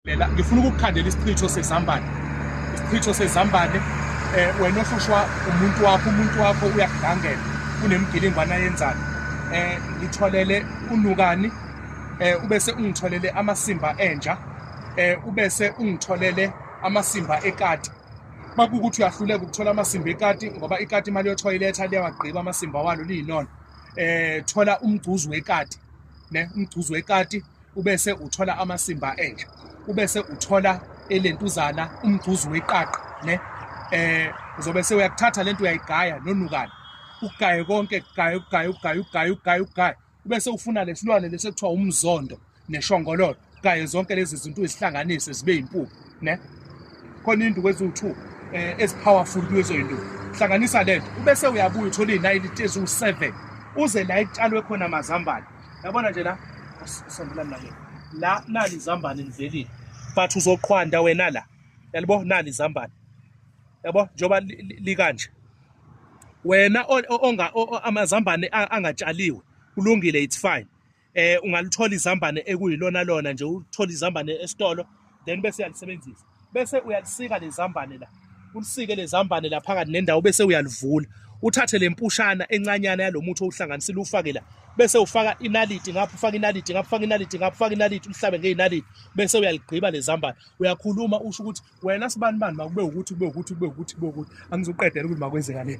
Lela ngifuna ukukukhandela isichitho sezambane. Isichitho sezambane eh wena ohlushwa umuntu wakho umuntu wakho uyakudangela kunemgilingwana yenzani eh ngitholele unukani eh ubese ungitholele amasimba enja eh ubese ungitholele amasimba ekati makukuthi uyahluleka ukuthola amasimba ekati ngoba ikati imali yothoyiletha liyawagqiba amasimba walo liyinona eh thola umgcuzu wekati ne umgcuzu wekati ubese uthola amasimba enja ubese uthola elentuzana umgcuzu weqaqa ne eh uzobe sewuyakuthatha lento uyayigaya nonukana ugaye konke gaye ugaye ugaye ugaye ugaye ugaye ubese ufuna lesilwane lesi ekuthiwa umzondo neshongololo gaye zonke lezi zinto uzihlanganise zibe impuphu ne khona induku eziwu-2 eh ezipowerful kulezo induku hlanganisa lento ubese uyabuya uthola izinayiliti eziwu-7 uze la itshalwe khona amazambane yabona nje la usondelani nake la nali izambane livelile but uzoqhwanda wena la yalibo nali izambane yabo njengoba likanje wena onga amazambane angatshaliwe kulungile it's fine eh ungalithola izambane ekuyilona lona nje uthola izambane esitolo then bese uyalisebenzisa bese uyalisika lezambane la ulisike lezambane la phakathi nendawo bese uyalivula uthathe lempushana encanyana yalomuthi owuhlanganisile ufake la bese ufaka inaliti ngapha ufaka inaliti ngapha ufaka inaliti ngapha ufaka inaliti ulihlabe ngeinaliti bese uyaligqiba lezambane uyakhuluma usho ukuthi wena sibani bani makube ukuthi kube ukuthi kube ukuthi kube ukuthi angizoqedela ukuthi makwenzeka le